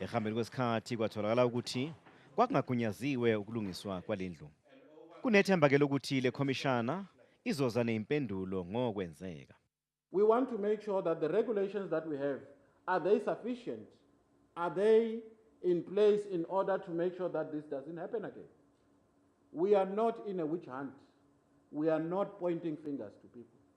Ehambeni kwesikhathi kwatholakala ukuthi kwakungagunyaziwe ukulungiswa kwalendlu. Kunethemba ke lokuthi le khomishana izoza neimpendulo ngokwenzeka. We want to make sure that the regulations that we have are they sufficient? Are they in place in order to make sure that this doesn't happen again? We are not in a witch hunt. We are not pointing fingers to people.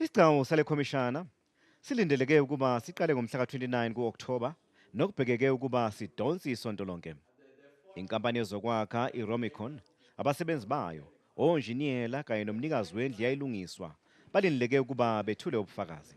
Isigcawu sale khomishana silindeleke ukuba siqale ngomhla ka-29 ku-Okthoba nokubhekeke ukuba sidonse isonto lonke. Inkampani yezokwakha iRomicon, abasebenzi bayo, onjiniyela kanye nomnikazi wendlu yayilungiswa balindeleke ukuba bethule ubufakazi.